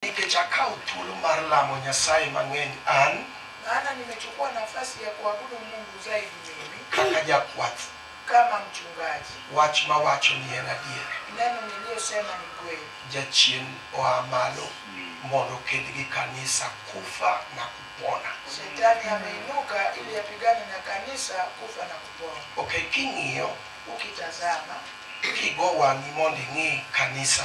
Nikech akawo thuolo mar lamo Nyasaye mang'eny an. Maana nimechukua nafasi ya kuabudu Mungu zaidi mimi. Kaka jakwath. Kama mchungaji. Wach mawacho ni en adier. Neno niliyosema ni kweli. Jachien oa malo mondo oked gi kanisa kufa na kupona. Shetani ameinuka ili apigane na kanisa kufa na kupona. Okay, king'iyo. Ukitazama. Kigo wang'i mondo ing'i kanisa.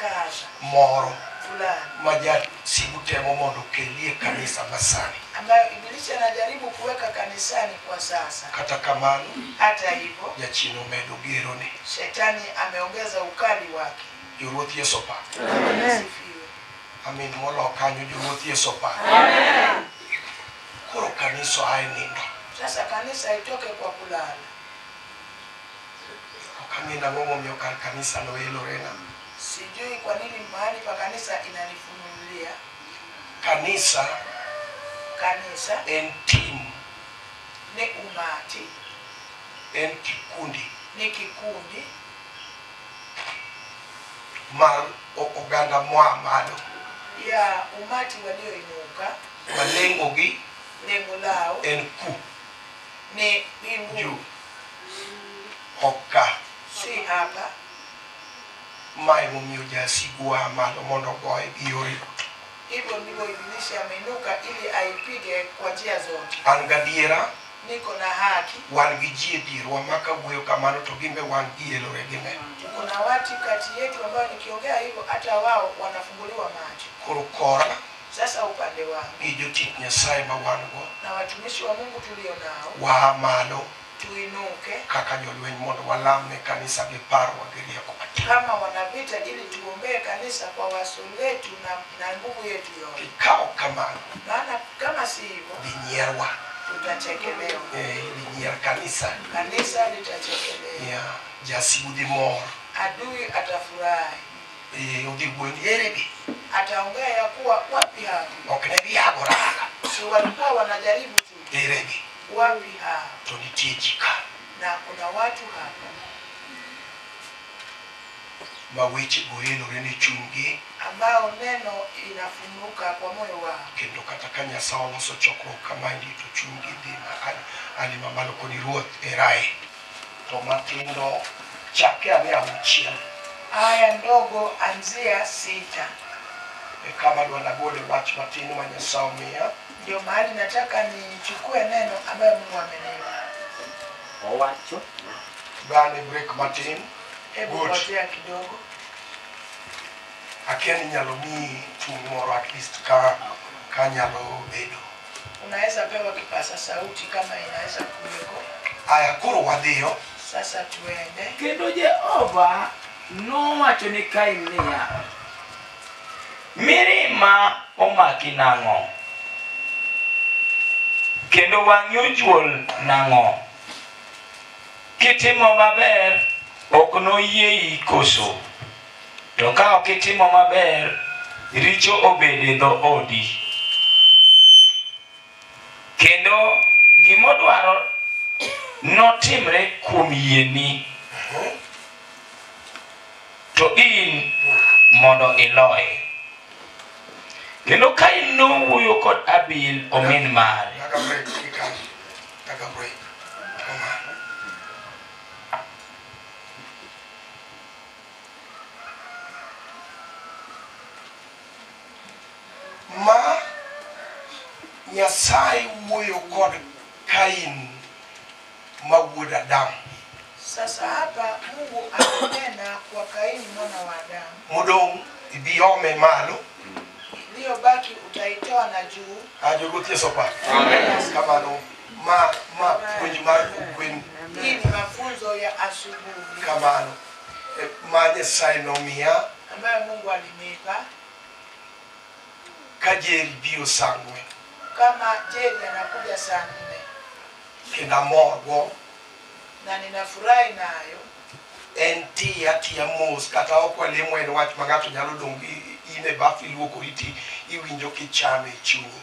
Kaza. moro Fulani. ma jasigu temo mondo okelie kanisa masani. Ambayo Ibilisi anajaribu kuweka kanisani kwa sasa. Kata kamano, Hata hivyo, jachien omedo gerone. shetani ameongeza ukali wake. Joluoth Yesu opak. Asifiwe. Amin molo kanyo joluoth Yesu opak. Koro kanisa ae nindo. Sasa kanisa itoke kwa kulala. Ok ang'e ni ang'o momiyo kar kanisa no elorena. Sijui kwa nini mahali pa kanisa inanifunulia. Kanisa Kanisa en tim, ni umati, en kikundi ni kikundi mar o- oganda moa malo. ya umati walioinuka. Malengogi Lengo lao en ku ni mbingu juu. Oka. Si hapa. Mae momiyo jasigu wa malo mondo ogoye gi yore duto. Hivyo ndivyo Ibilisi ameinuka ili aipige kwa njia zote. An gadiera. Niko na haki. Wan gi ji e dierwa ma kawuoyo kamano to gin be wan gielore gine. Tuko na watu kati yetu ambao nikiongea hivyo hata wao wanafunguliwa macho. Koro kora. Sasa upande wangu gi jotich Nyasaye ma wan-go, na watumishi wa Mungu tulio nao, waa malo tuinuke kaka jolweny mondo walam ne kanisa gi parruok gi rieko matin. kama wanavita, ili tuombee kanisa kwa waso letu na, na nguvu yetu yote, Kikawo kamano, maana kama si hivyo dinyierwa. tutachekelewa, Eh, idinyier kanisa. kanisa litachekelewa, Yeah. Jasigu dhi mor. adui atafurahi. Eh, odhi wuondi eregi ataongea ya kuwa wapi hao ok ne giyagoraga si walikuwa wanajaribu tu eregi wapi hao to nitie ji ka na kuna watu hapa ma weche goelore ne chunygi ambao neno inafunuka kwa moyo wao kendo kata ka nyasaye oloso chokruok kama ndi to chunygi dhi ma- ali mamalo koni ruoth erae to matindo chake ane auchiel aya ndogo anzia sita e kama dwa nagole wach matin ma nyasaye omiya ndio mahali nataka nichukue neno ambayo mungu amenipa owacho bane break matin hebu Good. ngojea kidogo akia ni nyalo miyi tung' moro at least ka ka nyalo bedo Unaweza pewa kipasa sauti kama inaweza kuweko. Aya, koro wadhiyo. Sasa tuende. Kendo Jehova nowacho ne Kain niya, mirima omaki nang'o? Kendo wang'i ojuol nang'o? Kitimo maber ok noyieyi koso? To ka ok itimo maber, richo obed e dho odi. Kendo gimodwaro notimre kuom yieni, to in mondo iloye. Kendo ka in nowuoyo kod Abil omin mare, Taka break kikaji. Taka break. Kama. ma Nyasaye wuoyo kod Kain ma wuod Adam. Sasa hapa Mungu akanena kwa Kaini mwana wa Adamu, Modong' ibi ome malo iliyobaki utaitoa na juu ajo ruoth Yesu pa. Amen. Kamano. ma ma puonj mar ogwen Hii ni mafunzo ya asubuhi kamano eh, ma Nyasaye nomiya ambayo Mungu alinipa ka Jerry biro sangwe kama Jeni anakuja saa nne kendo amorgo na ninafurahi nayo. en tiyo atiya mos kata ok walemo en wach ma ng'ato nyalo dong' i- in e bath iluokori ti iwinjo kichame e chunyi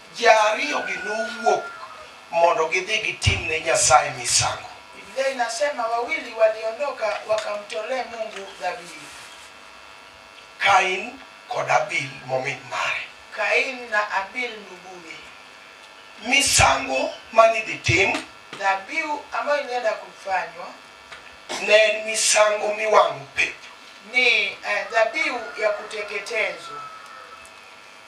Ji ariyogi nowuok mondo gidhi gitim ne Nyasaye misango. Biblia inasema wawili waliondoka wakamtolee Mungu dhabihu. Kain kod Abil momin mare. Kain na Abil nduguye. Misango manidhi tim. Dhabihu ambayo ilienda kufanywa. Ne en misango miwang'o pep. Ni eh, dhabihu ya kuteketezwa.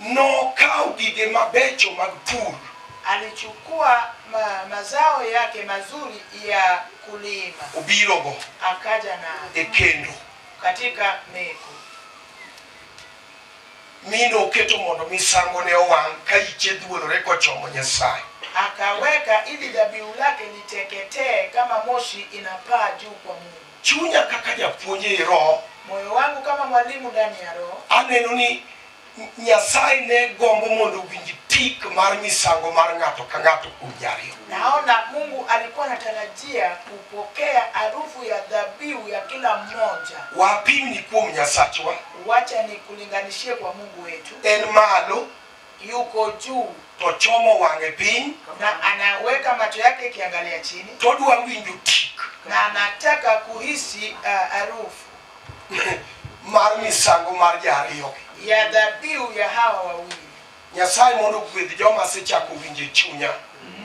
Nokawo gige mabecho mag pur. Alichukua ma, mazao yake mazuri ya kulima. Obirogo. Akaja na. E kendo. Katika meko. Mi noketo mondo misango ne owang' ka iche dhuolore kochomo Nyasaye. Akaweka ili dhabihu lake liteketee kama moshi inapaa juu kwa Mungu. Chunya kaka japuonj ei Roho. Moyo wangu kama mwalimu ndani ya Roho. Aneno ni Nyasaye ne gombo mondo owinj tik mar misango mar ng'ato ka ng'ato kuom ji ariyo. Naona Mungu alikuwa anatarajia kupokea harufu ya dhabihu ya kila mmoja. Wapimni kuom Nyasachwa, Wacha nikulinganishie kwa Mungu wetu. en malo yuko juu to ochomo wang'e piny na anaweka macho yake ikiangalia chini to odwa winjo tik na anataka kuhisi uh, harufu mar misango mar jaariyogi ya dhabihu ya hawa wawili nyasaye mondo ogwedh joma asechako winjo e chunya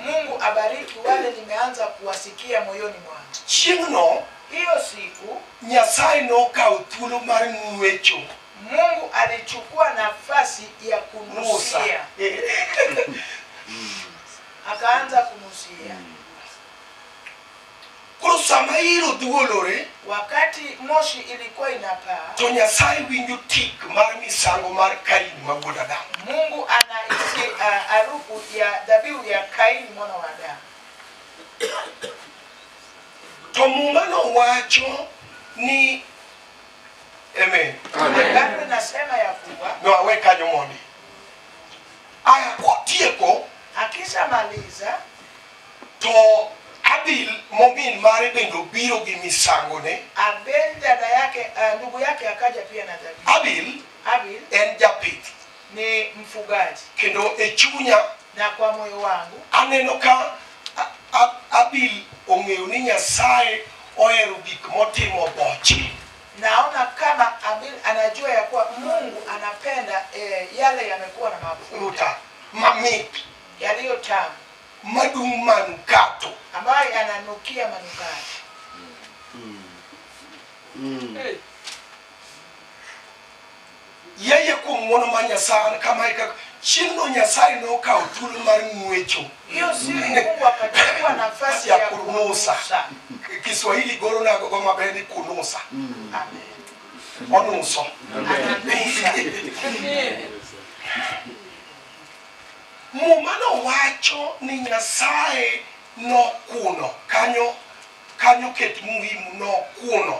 mungu abariki wale nimeanza kuwasikia moyoni mwangu chieng'no hiyo siku nyasaye nokawo thuolo mar ng'wecho Mungu alichukua nafasi ya Musa. kunusia, akaanza kunusia Koro sama iro dhuolore wakati moshi ilikuwa inapaa. to Nyasaye winjo tik mar misango mar Kain ma wuod Adam. Mungu anahisi ah, harufu ya dhabihu ya Kaini mwana wa Adamu. To muma nowacho ni Amen. Agano inasema ya kuwa No awe kanyo mondi. Aya kotieko akishamaliza to Abil mobil mare bende obiro gi misangone. Abel dada yake uh, ndugu yake akaja pia na dhabihu. Abil Abil en japith ni mfugaji kendo e chunya na kwa moyo wangu aneno ka A- A- abil ong'eyo ni nyasaye ohero gik motimo boche naona kama Abil anajua ya kuwa Mungu anapenda eh, yale yamekuwa na mafuta ruta mamit yaliyo tamu madung' manukato ambayo yananukia manukato. Mm. Yeye kuom ng'wono mar Nyasaye an kama e kaka chieng'no Nyasaye nokawo thuolo mar ng'wecho Hiyo siku Mungu akachukua nafasi ya ya kunusa. kunusa. Kiswahili goro nago go maber ni kunusa. Amen. Onuso. Ananusa. Muma nowacho ni Nyasaye nokuno kanyo kanyo ket muhimu nokuno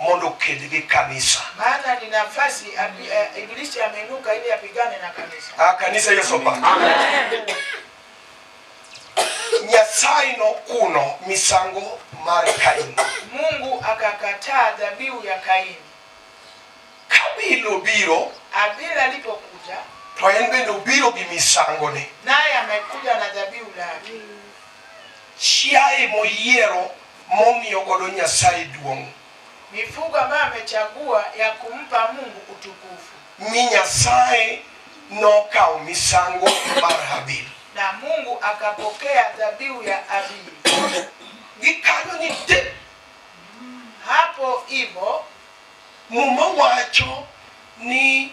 mondo oked gi kanisa. maana ni nafasi abi- eh, ibilisi ameinuka ili apigane na kanisa Ah, kanisa Yesu opake. Nyasaye nokuno misango mar Kain. mungu akakataa dhabihu ya kaini Kabil obiro abili alipokuja to en bende obiro gi misangone. naye amekuja na dhabihu lake Chiaye moyiero momiyo godo Nyasaye duong'. Mifugo ambayo amechagua ya kumpa Mungu utukufu. Mi Nyasaye nokawo misango mar Habil. Na Mungu akapokea dhabihu ya Habili. Gikanyo ni te. Hapo hivyo Muma wacho ni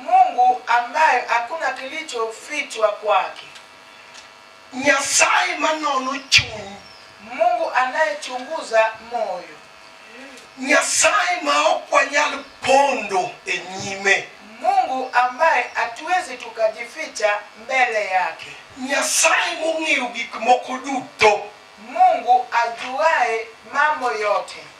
Mungu ambaye hakuna kilichofichwa kwake, nyasaye manono chuny Mungu anayechunguza moyo, nyasaye ma ok wanyal pondo e nyime Mungu ambaye hatuwezi tukajificha mbele yake, nyasaye mong'eyo gik moko duto Mungu ajuaye mambo yote.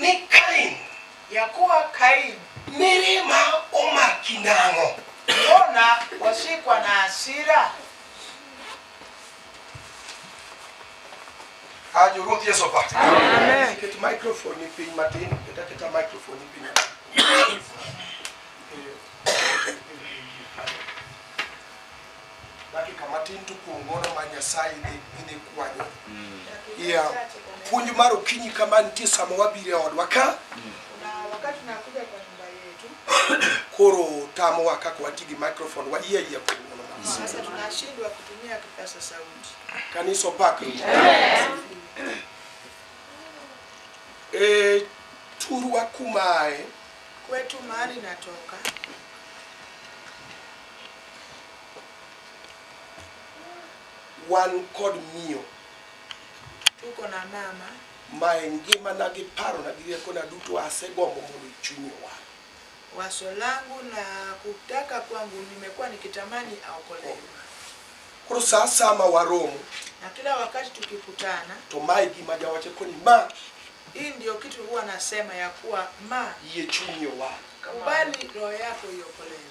Ni Kain. Yakuwa Kain. Mirima omaki nang'o? Mbona washikwa na hasira? Ah, Ruoth Yesu opaki. Amen. Ket microphone piny matin, ket aketa microphone piny matin. dakika matin to kuom gono ma nyasaye idhi kwanyo ya puonj mar okinyi kama nitie sama wabire odwa ka koro tamowa kaka wati gi microphone wayie ayia kuom gono kanisa opak e turwa kumae kwetu mahali natoka wan kod miyo tuko na mama ma e ngimana gi parona gi riekona duto asegombo mondo chunye wa waso langu na kutaka kwangu nimekuwa nikitamani aokolewe koro saa sama waromo na kila wakati tukikutana to mae gima jawache koni ma hii ndio kitu huwa nasema ya kuwa ma yie chunye wa kubali roho yako iokolewe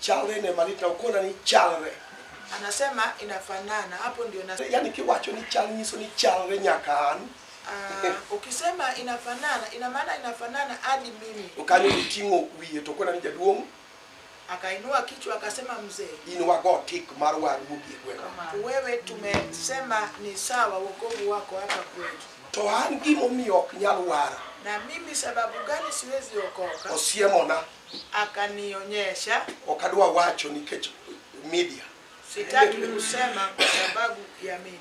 Chalre ne malit na ukona ni chalre. Anasema inafanana. Hapo ndio na Yaani kiwacho ni chal nyiso ni chalre nyaka an. Ah, ukisema inafanana, ina maana inafanana hadi mimi. To kanyo iting'o wiye to ukona ni jaduong' Akainua kichwa akasema, mzee, in wago tik mar war wuogi e gweng'. wewe tumesema ni sawa wokovu wako hapa kwetu, To an gimomiyo ok nyal wara na mimi sababu gani siwezi okoka? osiemona akanionyesha, ok adwa wacho nikech media. sitaki kusema kwa sababu ya media.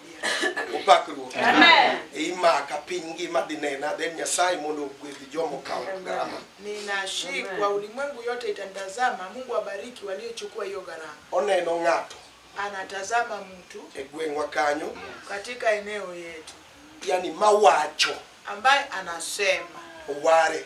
Opak Ruoth. Amen. Imaka piny ngima dhi nena, then Nyasaye mondo ogwedhi jomo kawo gharama. Ninashikwa, ulimwengu yote itanitazama. Mungu abariki waliochukua hiyo gharama. Oneno ng'ato Anatazama mtu e gweng'wa kanyo, katika eneo yetu yani mawacho ambaye anasema oware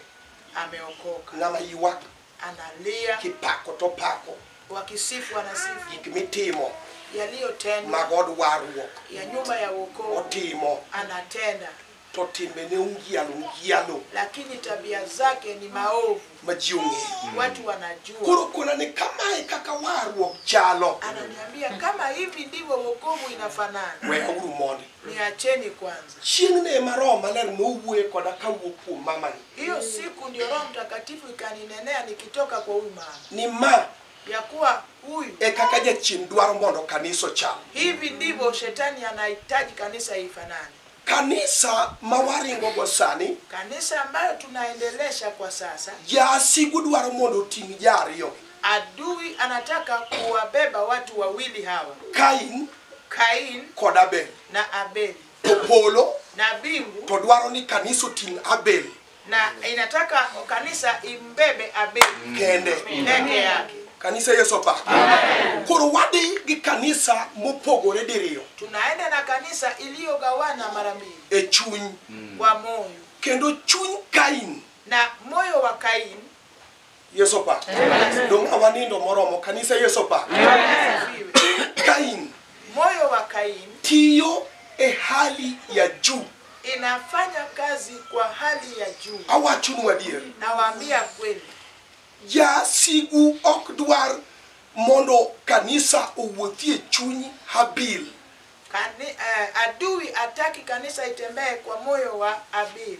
ameokoka ng'ama ywak analia kipako to pako wakisifu anasifu gik mitimo yaliyotendwa mag od warruok ya nyumba ya wokovu otimo anatenda to timbene ungialo ungialo lakini tabia zake ni maovu ma ji ong'eyo watu wanajua koro kona ni kamae kaka warruok chalo ananiambia kama hivi ndivyo wokovu inafanana weyauru mondi Niacheni kwanza. Chieng'no ema Roho Maler nowuoye koda kawuok kuom mamani. Hiyo siku ndio Roho Mtakatifu ikaninenea nikitoka kwa huyu mama, Ni ma ya kuwa huyu, e kaka jachien dwaro mondo kanisa ochal. hivi ndivyo shetani anahitaji kanisa ifanane, Kanisa ma waringogo sani, kanisa ambayo tunaendelesha kwa sasa. jasigu dwaro mondo oting' ja ariyogi. Adui anataka kuwabeba watu wawili hawa, Kain Kain kod Abel. na Abeli, To polo na mbingu to dwaro ni kanisa oting' Abel na inataka kanisa imbebe Abeli kende. peke yake. Kanisa Yesu opa. Koro wadhi gi kanisa mopogore diriyo Tunaenda na kanisa iliyogawana mara mbili e chuny. kwa moyo, Kendo chuny Kain na moyo wa Kain yesu opak dong' awanindo moromo kanisa yesu opak kain Moyo wa Kaini tiyo e hali ya juu inafanya kazi kwa hali ya juu. awachonu adier Nawaambia kweli, jasigu ok dwar mondo kanisa owuothie chuny habil kani, eh, adui ataki kanisa itembee kwa moyo wa Abili.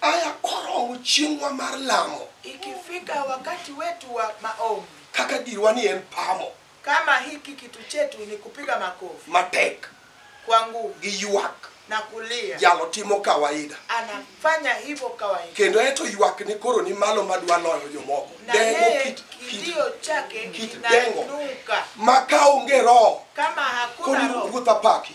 Aya korowo chieng'wa mar lamo. Ikifika wakati wetu wa maombi. Kaka dirwa ni en pamo. Kama hiki kitu chetu ni kupiga makofi. Matek. Kwa nguvu. Gi ywak. Na kulia. Jalo timo kawaida. Anafanya hivyo kawaida. Kendo eto ywak ni koro ni malo madwa loyo jomoko. Na yeye kit, kidio chake kit dengo. Maka onge roho. Kama hakuna roho. Koni ruotha paki.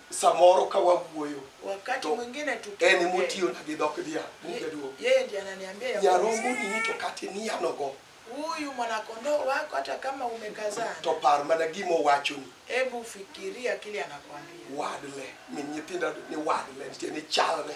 samoro ka wawuoyo wakati To, mwingine en tukiongea emotiyona gi dhok dhiang' ye- mubeduo yeye ndiye ananiambia ya kwamba nyarombo nini to kata iniyanogo huyu mwanakondoo wako hata kama umekazana to par mana gima owachoni hebu fikiria kile anakwambia wadle min nyithindo ni wadle nitie ni chalre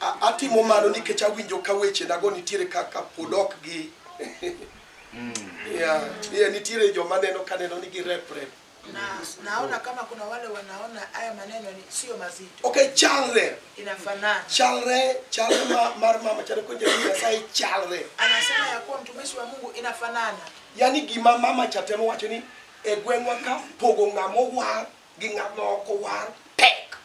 A- atimo mano nikech awinjo ka wechenago nitiere kaka pod ok gi Yeah, yeah, nitiere joma neno ka neno ni girepre na naona kama kuna wale wanaona haya maneno ni sio mazito okay chalre inafanana chalre chalre ma- mar mama chalo ko jabi nyasaye chalre anasema ya kuwa mtumishi wa mungu inafanana yani gima mama cha temo wacho ni e gweng'wa ka pogo ng'ama owar gi ng'at ma ok owar tek.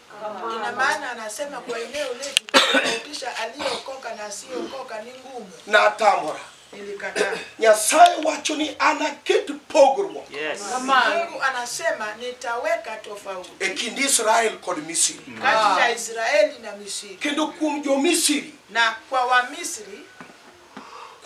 Ina maana anasema kwa eneo letu tofautisha aliyeokoka na asiyeokoka ni ngumu. Natamora. Nilikataa. Nyasaye wacho ni anaket pogruok Yes. Mungu anasema nitaweka tofauti e kind Israel kod Misri, kati ya Israeli na Misri, kendo kuom jo-Misri na kwa Wamisri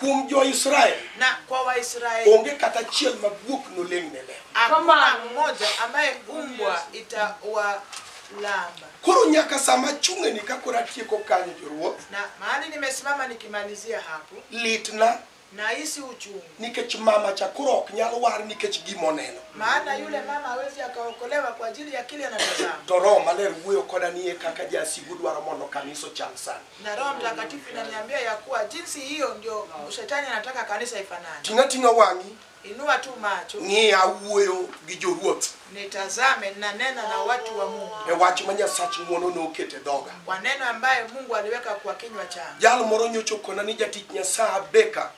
kuom jo-Israel na kwa Waisraeli onge kata achiel ma guok noleng' ne leo. hakuna mmoja ambaye umbwa itawalamba. Koro nyaka sama achung'eni ka koro atieko kanyo joruoth, Na mahali nimesimama nikimalizia hapo, litna nahisi uchungu, nikech mama cha koro ok nyal war nikech gima oneno. maana yule mama hawezi akaokolewa kwa ajili ya kile anatazama. To Roho Maler wuoyo koda ni e kaka jasigu dwaro mondo kanisa ochal sani. na Roho Mtakatifu inaniambia ya kuwa jinsi hiyo ndio shetani anataka kanisa ifanane. Ting'a ting'a wang'i Inua tu macho ng'i awuoyo gi joruoth nitazame, ninanena na watu wa Mungu e wach ma Nyasach ng'wono nokete dhoga. kwa neno ambaye Mungu aliweka kwa kinywa changu. Jal moro nyocha okona ni jatich Nyasaye Abeka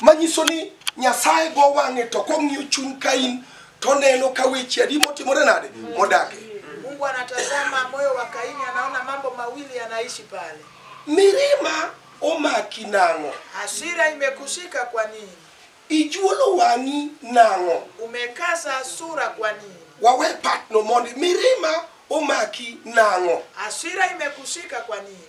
manyiso ni nyasaye go wang'e to kong'iyo chuny kain toneno ka weche adi motimore nade modake Mungu anatazama moyo wa Kaini, anaona mambo mawili yanaishi pale. mirima omaki nang'o Hasira imekushika kwa nini? ijuolo wang'i nang'o Umekaza sura kwa nini? wawe patno mondi mirima omaki nang'o Hasira imekushika kwa nini?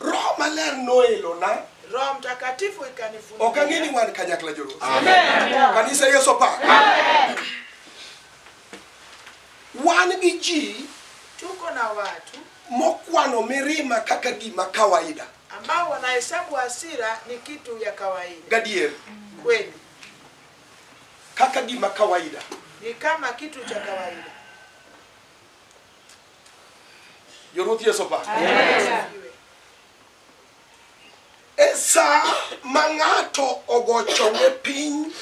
roho maler noelona Roho Mtakatifu ikanifunulia. ok ang'e ni wan kanyakla joluo kanisa yesu opak wan gi ji Tuko na watu mokwano mirima kaka gima kawaida ambao wanahesabu hasira ni kitu ya kawaida. gadier Kweli kaka gima kawaida ni kama kitu cha kawaida. Jo Ruoth Yesu opak. E sa ma ng'ato ogo chonge piny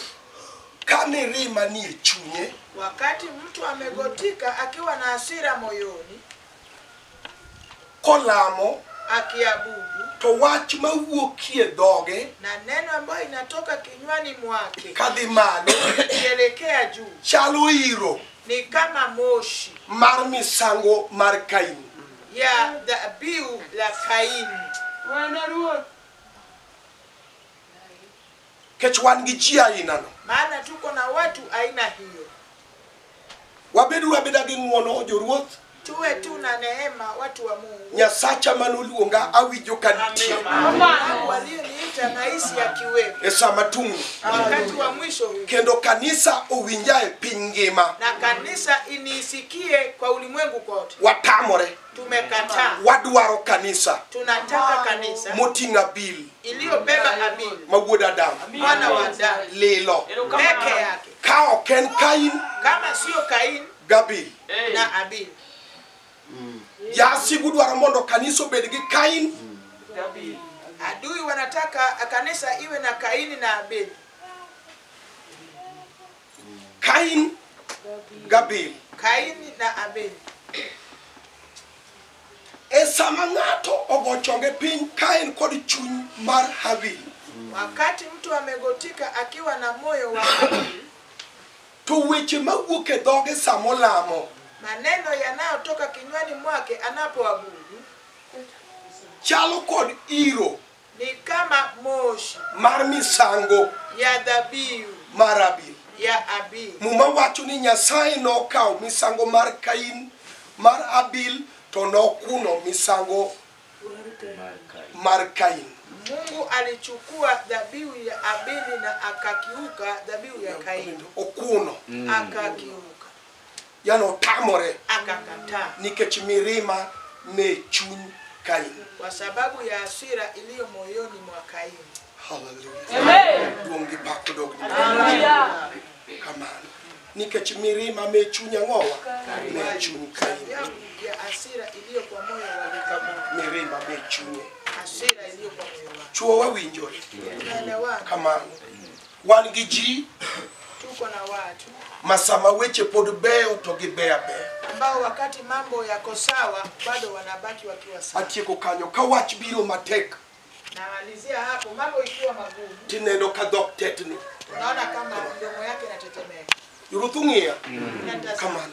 ka ni rima nie chunye, Wakati mtu amegotika akiwa na hasira moyoni, kolamo akiabudu to wach ma wuokie dhoge na neno ambayo inatoka kinywani mwake kadhi malo ikielekea juu chalo iro ni kama moshi mar misango mar kaini ya dhabihu la Kaini. Bwana Ruoth, Kech wan gi ji aina no. Maana tuko na watu aina hiyo. Wabedu wabeda gi ng'uono joruoth. Tuwe tu na neema watu wa Mungu. Nyasacha manoluonga awinjo ka nitie. Mungu aliyeniita nahisi akiwepo. E sama tung'ni. Wakati wa mwisho huu. Kendo kanisa owinja e piny ngima. Na kanisa inisikie kwa ulimwengu kote. Watamore. Tumekataa. Wadwaro kanisa Tunataka kanisa moting'a bil iliyobeba amini ma wuod Adam mwana wa Adamu lilo. peke yake, Ka ok en Kain kama sio Kaini gabil. na Abili. Jasigu dwaro mondo kanisa obed gi Kain Adui wanataka kanisa iwe na Kaini na Abili. Kain Gabil. Kaini na Abel. E sama ng'ato ogo chonge piny ka en kod chuny mar Habil, Wakati mtu amegotika akiwa na moyo wa Kaini, to weche mawuok e dhoge sama olamo maneno yanayotoka kinywani mwake anapoabudu chalo kod iro ni kama moshi mar misango ya dhabihu mar Abel. ya Abel. Muma wacho ni Nyasaye nokawo misango mar Kain mar Abel to nokuno misango mar Kain. Mungu alichukua dhabihu ya Abeli na akakiuka dhabihu ya Kaini, Okuno. akakiuka. yani otamore akakataa nikech mirima me chuny kaini kwa sababu ya hasira iliyo moyoni mwa Kaini. haleluya duong' gi pak odog ni kamano nikech mirima me chuny ang'owa me chuny kaini Sababu ya hasira iliyo kwa moyo wa Kaini. mirima me chunye Hasira iliyo kwa moyo wa chuo wawinjore Tunaelewana. kamano wan gi ji tuko na watu ma sama weche pod beyo to gibeyo abeya. ambao wakati mambo yako sawa bado wanabaki wakiwa sawa. Atieko kanyo ka wach biro matek Namalizia hapo, mambo ikiwa magumu, tineno ka dhok tetni. unaona kama mdomo yake inatetemeka. Ruth ung'iya Natazama. kamano.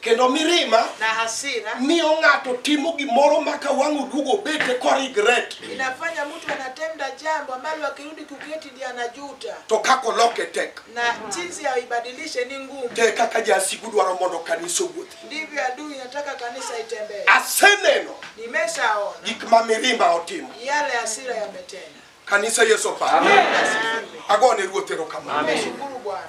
kendo mirima na hasira miyo ng'ato timo gimoro ma ka wang' oduogo obete korigret inafanya mtu anatenda jambo ambalo akirudi kuketi ndiye anajuta, to kaka oloke tek na jinsi ya ibadilishe ni ngumu. te kaka jasigu dwaro mondo kanisa owuothi Ndivyo adui nataka kanisa itembee. aseneno Nimeshaona gik ma mirima otimo yale hasira yametenda. kanisa yesu opar Asifiwe. agone ruoth erokamano Nashukuru Bwana.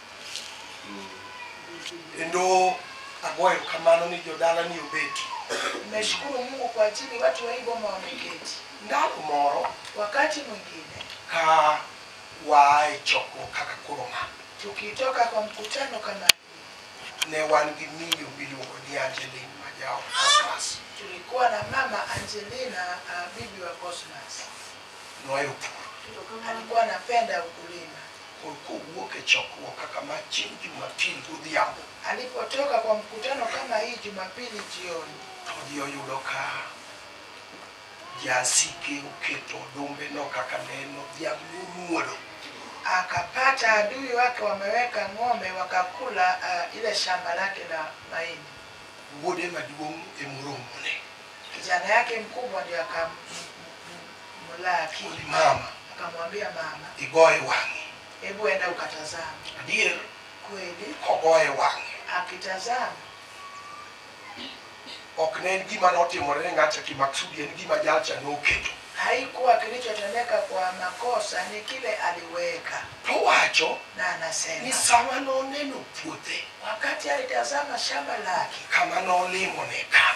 Kendo agoyo kamano ni jodala ni obet. Nimeshukuru Mungu kwa ajili watu wa hii boma wameketi. Ndalo moro Wakati mwingine ka waa e chokruok kaka koro ma, tukitoka kwa mkutano kama hii, ne wan gi miyo miluongo ni Angeline ma ja Cosmas. tulikuwa na mama Angelina uh, bibi wa Cosmas Nohero pur. alikuwa anapenda ukulima kod kowuok e chokruok kaka ma chieng' Jumapil godhiambo. Alipotoka kwa mkutano kama hii Jumapili jioni, To ji oyudo ka jasike oketo odombeno kaka ne en odhiamb nyomuodo. akapata adui wake wameweka ng'ombe wakakula uh, ile shamba lake la mahindi. Wuode maduong' e moromone. Kijana yake mkubwa ndio akam Mulaki. Ulimama. Akamwambia mama. Igoye wang'i. Hebu enda ukatazama. Adier. Kweli. Kogoye wang'i. Akitazama. Ok ne en gima notimore ne ng'acha kimaksudi, en gima jalcha noketo. Haikuwa kilichotendeka kwa makosa, ni kile aliweka. Towacho. Na anasema. Ni sama noneno puothe. Wakati alitazama shamba lake. Kama nolimone ka.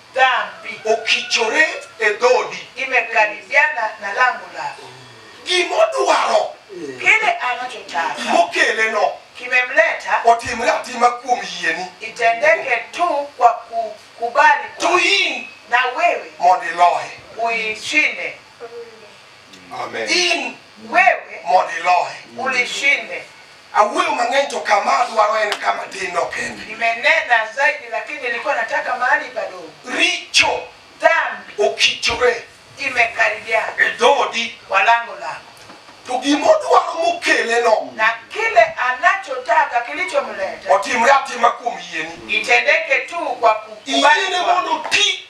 dhambi okichore e dhodi imekaribiana na lango lako gimodwaro kile anachotaka mokeleno kimemleta otimre atima kuom yieni itendeke tu kwa kukubali to kwa- in na wewe mondo iloye uishinde in wewe mondo iloye ulishinde Awuoyo mang'eny to kama adwaro en kama tin no kende. Nimenena zaidi lakini nilikuwa nataka mahali padogo. Richo Dhambi okichore imekaribiana e dhoodi kwa lango lako, to gima odwaro mokele no na kile anachotaka kilichomleta otimre atima kuom yieni. itendeke tu kwa Yiene kukubali kwako. mondo oti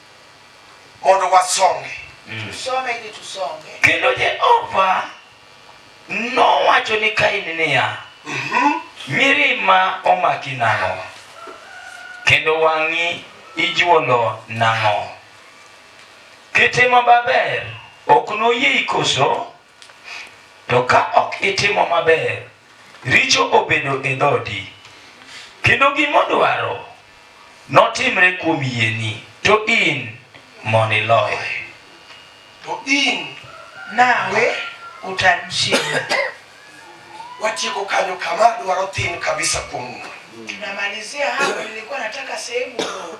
mondo wasongi Tusome ili tusonge. kendo jehova nowacho ni kain niya mirima omaki nang'o kendo wang'i ijuolo nang'o kitimo maber ok noyiei koso To ka ok itimo maber, richo obedo e dhoodi, kendo gima odwaro notimre kuom yieni, to in mondo iloye. To in nawe utamshinda. Watieko kanyo kama dwaro thin kabisa kuom Tunamalizia hapo, nilikuwa nataka sehemu ndogo.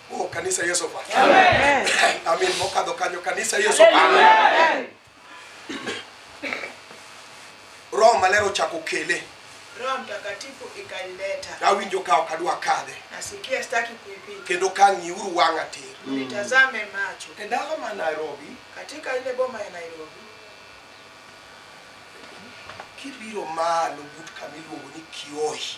Oh, kanisa Yesu pa. Amin. Mokadho kanyo kanisa Yesu pa. Roho maler ochako kele. Roho Mtakatifu ikanileta. Awinjo ka ok adwa kadhe. Nasikia sitaki kuipita. Kendo kang'iuru wang'a tir. Nitazame macho. E dala ma Nairobi, Katika ile boma ya Nairobi, kibiro malo but kama iluongo ni Kiohi.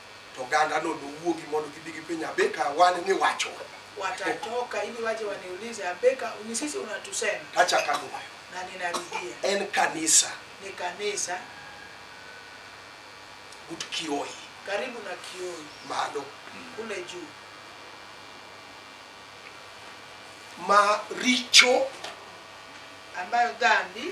to ogandano nowuogi mondo gibi gipenja abeka wan ni wachowa watatoka ili waje waniulize abeka ni sisi unatusema kachaka nuwayo na ninarudia en kanisa ni kanisa but kioi karibu na kioi malo kule juu ma richo ambayo dhambi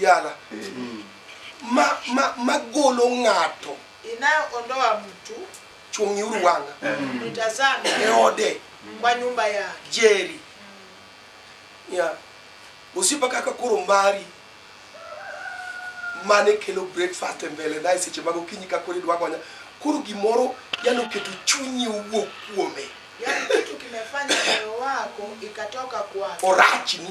yala ma ma magolo ng'ato inayoondoa mtu chung'i uru wanga nitazame e ode kwa nyumba yake jeri ya osipa kaka koro mari mane kelo breakfast e mbele na e seche mag okinyi ka koro idwa gonya koro gimoro yalo keto chunyi owuok kuome yaani kitu kimefanya moyo wako ikatoka kwake orachni